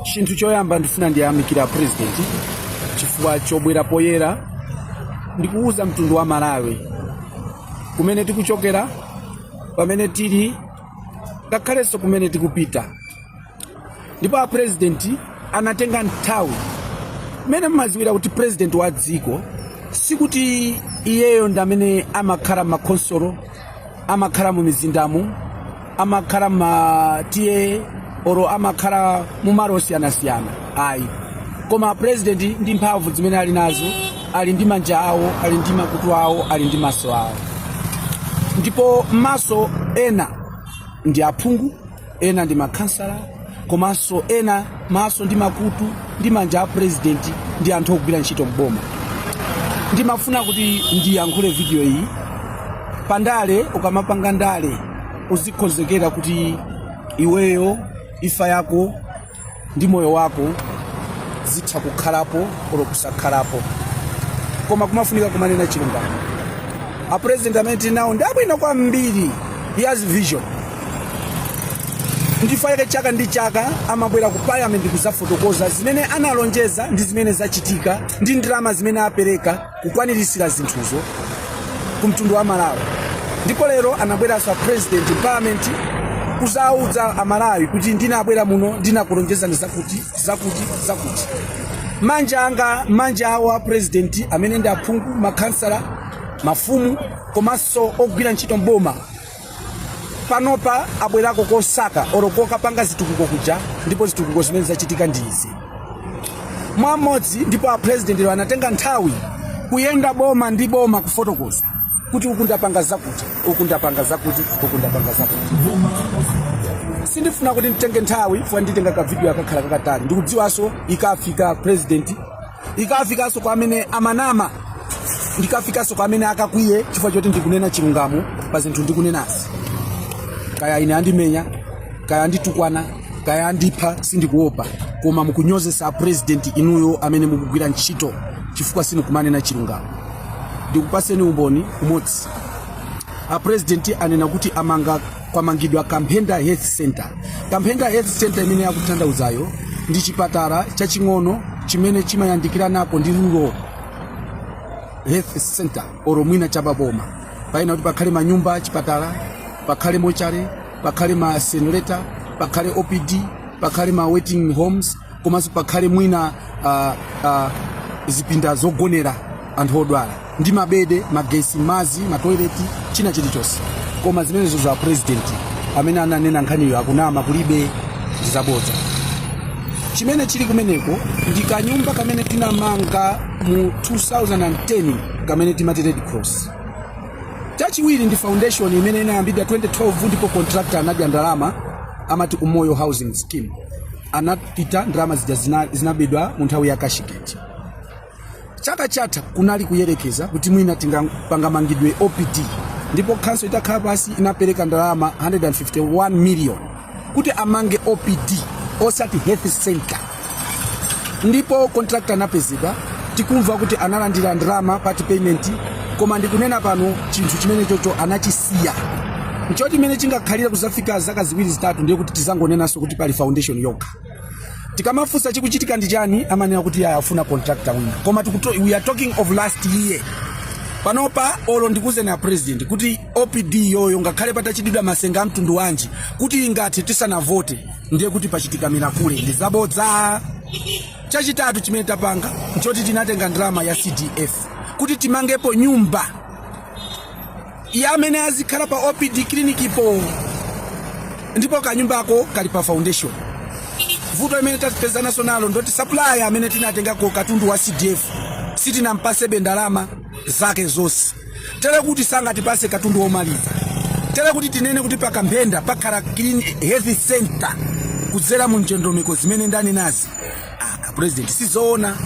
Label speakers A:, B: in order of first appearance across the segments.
A: chinthu choyamba ndifuna ndiyamikire a president chifukwa chobwera poyera ndikuwuza mtundu wa malawi kumene tikuchokera pamene tili ngakhalenso kumene tikupita ndipo a president anatenga nthawi mmene mumadziwira kuti president wa dziko sikuti iyeyo ndi amene amakhala mmakhonsolo amakhala mu mizindamu amakhala ma TA olo amakhala mu malo osiyanasiyana ayi koma president ndi mphamvu zimene ali nazo ali ndi manja awo ali ndi makutu awo ali ndi maso awo ndipo maso ena ndi aphungu ena ndi makhansala komanso ena maso ndi makutu ndi manja a purezidenti ndi anthu ogwira ntchito m'boma ndimafuna kuti ndiyankhule vidiyo iyi pandale ukamapanga ndale uzikonzekera kuti iweyo imfa yako ndi moyo wako zitha kukhalapo olo kusakhalapo koma kumafunika kumanena chilungamo a president amene tili nawo ndi abwino kwambiri he has vision ndi chifukwa chake chaka ndi chaka amabwera ku parliament kuzafotokoza zimene analonjeza ndi zimene zachitika ndi ndalama zimene apereka kukwaniritsira zinthuzo ku mtundu wa malawi ndipo lero anabweranso a president parliament kuzawuza amalawi kuti ndinabwera muno ndinakulonjezani zakuti zakuti zakuti manja anga manja awo a president amene ndi aphungu makhansala mafumu komanso ogwira ntchito mboma panopa abwerako kosaka olo kokapanga zitukuko kuja ndipo zitukuko zimene zachitika ndi izi mwamodzi ndipo apurezidentiwo anatenga nthawi kuyenda boma ndi boma kufotokoza kuti uku ndapanga zakuti uku ndapanga zakuti uku ndapanga zakuti sindifuna kuti nditenge nthawi chifukwa nditenga kavidiyo yakakhala kakatali ndikudziwanso ikafika kwa purezidenti ikafikanso kwa amene amanama ikafikanso kwa amene akakwiye chifukwa choti ndikunena chilungamo pa zinthu ndikunenazi kaya ine andimenya kaya anditukwana kaya andipha sindikuopa koma mukunyozesa apurezidenti inuyo amene mukugwira ntchito chifukwa simukumanena chilungamo ndikupaseni umboni umodzi apurezidenti anena kuti amanga kwamangidwa kamphenda health center kamphenda health center imene akutanthauzayo ndi chipatala chaching'ono chimene chimayandikiranako ndi rural health center olo mwina cha pa boma payenera kuti pakhale manyumba achipatala pakhale mochare pakhale ma senreta pakhale opd pakhale ma waiting homes komanso pakhale mwina ah, ah, zipinda zogonera anthu odwala ndi mabedi magesi madzi matoileti china chilichonse koma zimenezo a president amene ananena nkhaniyo akunama kulibe ndi zabodza chimene chili kumeneko ndi kanyumba kamene tinamanga mu 2010 kamene timati red cross chachiwiri ndi foundation imene inayambidwa 2012 ndipo contractor anadya ndalama amati umoyo housing scheme anapita ndalama zija zinabedwa mu nthawi ya kashigeti chaka chatha kunali kuyerekeza kuti mwina tingapanga mangidwe a OPD ndipo khanso itakhala pasi inapereka ndalama 151 million kuti amange OPD osati health center ndipo contractor anapezedwa tikumva kuti analandira ndalama part payment koma ndikunena pano chinthu chimenechocho anachisiya nchoti mmene chingakhalire kuzafika zaka ziwiri zitatu ndiye kuti tizangonenanso kuti pali foundation yokha tikamafunsa chikuchitika ndi chani amanena kuti yaya afuna contractor wina koma tikuto, we are talking of last year panopa olo ndikuuzeni a president kuti opd iyoyo ngakhale patachitidwa masenga a mtundu wanji kuti ingathe tisanavote ndiye kuti pachitika mirakule ndi zabodza Chachitatu chimene tapanga nchoti tinatenga ndalama ya CDF kuti timangepo nyumba ya amene azikhala pa OPD clinic po, ndipo kanyumbako kali pa foundation. Vuto imene tapezanaso nalo ndoti supplier amene tinatengako katundu wa CDF sitinampasebe ndalama zake zonse, tere kuti sangatipase katundu womaliza, tere kuti tinene kuti pakamphenda pakhala health center kudzera mu ndondomeko zimene ndanenazi. ah, president sizoona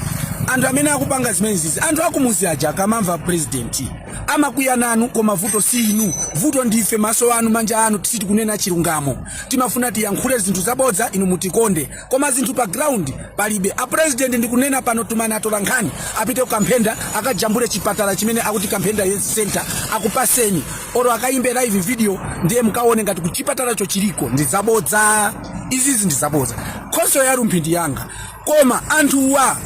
A: anthu amene akupanga zimenezizi anthu akumuzi aja akamamva president amakwiya nanu koma vuto si inu vuto ndife maso anu manja anu sitikunena chilungamo timafuna tiyankhule zinthu zabodza inu mutikonde koma zinthu pa ground palibe a president ndikunena pano tumani atola nkhani apite kukamphenda akajambule chipatala chimene akuti kamphenda health center akupaseni oro akayimbe live video ndiye mukaone ngati kuti chipatalacho chiliko ndi zabodza izizi ndi zabodza khonsolo ya rumphi ndi yanga koma anthuwa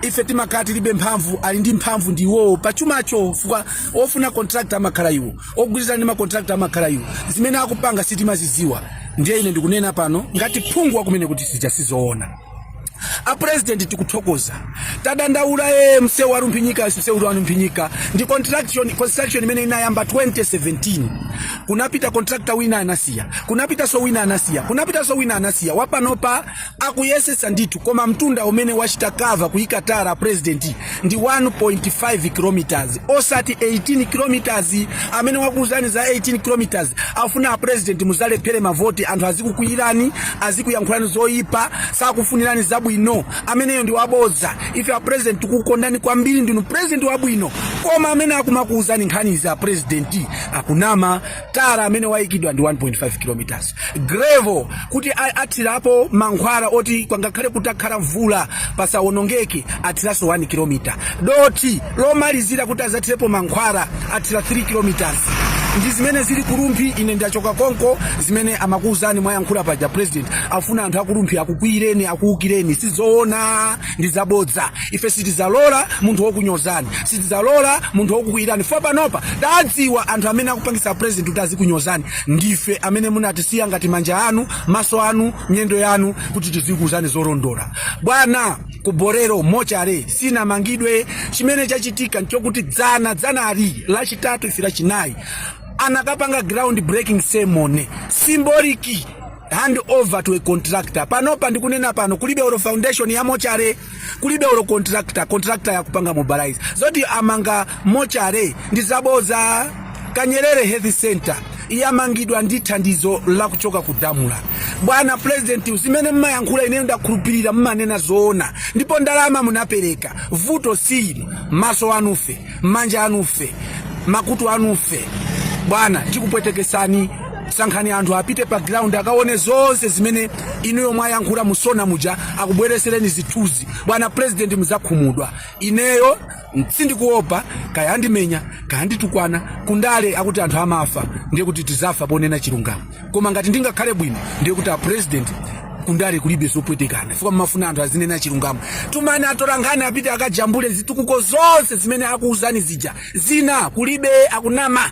A: ife timakhala tilibe mphamvu ali ndi mphamvu ndi iwowo pachumacho fukwa ofuna contractor amakhala iwo ogwirizana ndi macontract amakhala iwo zimene akupanga sitimazidziwa ndiye ine ndikunena pano ngati phungu wakumene kuti zija sizoona a president tikuthokoza tadandaula ee msewu wa rumphi nyika msewu wa rumphi nyika ndi construction imene inayamba 2017 kunapita contractor wina anasiya kunapitanso wina anasiya kunapitanso wina anasiya wapanopa akuyesetsa ndithu koma mtunda umene wachita kava kuyika tara a president ndi 1.5 kilometers osati 18 kilometers amene wakuuzani za 18 kilometers afuna a president muzalephere mavoti anthu azikukwiyirani azikuyankhulani zoyipa sakufunirani zabwino ameneyo ndi wabodza ife a president tikukondani kwambiri ndinu president wabwino koma amene akumakuuzani nkhani izi a president akunama tara amene wayikidwa ndi 1.5 kilometers gravel kuti a- athirapo mankhwala oti pangakhale kutakhala mvula pasawonongeke athiranso 1 kilomita doti lomalizira kuti azathirepo mankhwala athira 3 kilometers ndi zimene zili ku Rumphi ine ndachoka konko zimene amakuwuzani mwayankhula paja president afuna anthu a ku Rumphi akukwiyireni akuwukireni sizoona ndi zabodza ife sitizalola munthu wokunyozani sitizalola munthu wokukwiyirani fo panopa tadziwa anthu amene akupangisa president kuti azikunyozani ndife amene munatisiya ngati manja anu maso anu miyendo yanu kuti tizikuwuzani zolondola bwana ku Bolero mochale sinamangidwe chimene chachitika nchokuti dzana dzanali lachitatu ife lachinayi anakapanga ground breaking ceremony symbolic hand over to a contractor panopa ndikunena pano kulibe olo foundation ya mochale kulibe olo contractor contractor yakupanga mobilize zoti amanga mochale ndi zaboza kanyerere health center yamangidwa ndi thandizo la kuchoka ku DAMRA bwana president zimene mmayankhula ineyo ndakhulupirira mmanena zoona ndipo ndalama munapereka vuto si inu maso anufe manja anufe makutu anufe bwana tikupwetekesani sankhani anthu apite pa ground akaone zonse zimene inuyo mwayankhula mu SONA muja akubweresereni zithunzi bwana president muzakhumudwa ineyo sindikuopa kaya andimenya kaya anditukwana kundale akuti anthu amafa ndiye kuti tizafa ponena chilungamo koma ngati ndingakhale bwino ndiye kuti apresident kundale kulibe zopwetekana chifukwa mmafuna anthu azinena chilungamo tumani atolankhani apite akajambule zitukuko zonse zimene akuuzani zija zina kulibe akunama